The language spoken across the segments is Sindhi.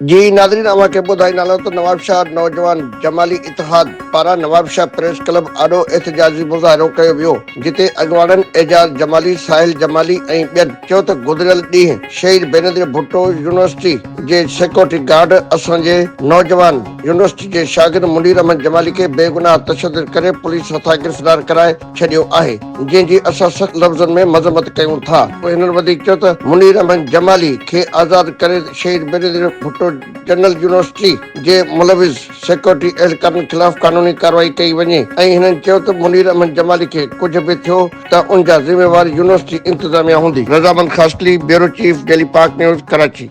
جي ناظرين اوهان کي ٻڌائيندالان ته نوابشاهه نوجوان جمالي اتحاد پاران نوابشاهه پريس ڪلب آڏو احتجاجي مظاهرو ڪيو ويو جتي اڳواڻن اعجاز جمالي ساحل جمالي ۽ ٻين چيو ته گذريل ڏينهن شهيد بينظير ڀٽو يونيورسٽي جي سيڪيورٽي گارڊ اسان جي نوجوان يونيورسٽي جي شاگرد منير احمد جمالي کي بيگناهه تشدد ڪري پوليس هٿان گرفتار ڪرائي ڇڏيو آهي جنهن جي اسان سخت لفظن ۾ مذمت ڪيون ٿا پوء هنن وڌيڪ چيو ته منير احمد جمالي کي آزاد ڪري شهيد بينظير ڀٽو جنرل يونيورسٽي جي ملوث سيڪيورٽي اهلڪارن خلاف قانوني ڪارروائي ڪئي وڃي ۽ هنن چيو ته منير احمد جمالي کي ڪجهه به ٿيو ته ان جا ذميوار يونيورسٽي انتظاميا هوندي. Razamand Khaskheli, bureau chief, daily Pak news, Karachi.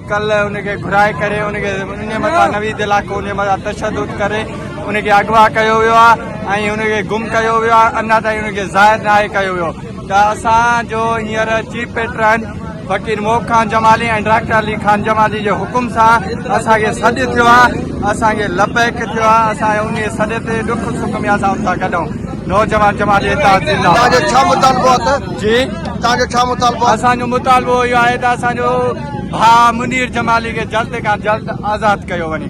ڪل ان کي گهرائي ڪري ان کي انهي مٿان نويد علائقو انهي مٿان تشدد ڪري ان کي اغوا ڪيو ويو آهي ۽ ان کي گم ڪيو ويو آهي اڃا تائين ان کي ظاهر ناهي ڪيو ويو ته اسان جو هينئر chief patron Faqir Mob Khan Jamali ۽ doctor Ali Khan Jamali جي حڪم سان اسان کي سڏ ٿيو آهي اسان کي لبيڪ ٿيو آهي اسان انهي سڏ تي ڏک سک ۾ اسان ان سان گڏ آهيون نوجوان جماعت اتحاد زنده باد تانجو ڇا مطالبو آ ته جي تانجو ڇا مطالبو آ اسانجو مطالبو اهو آهي ته اسانجو ڀاء منير جمالي کي جلد کان جلد آزاد ڪيو وڃي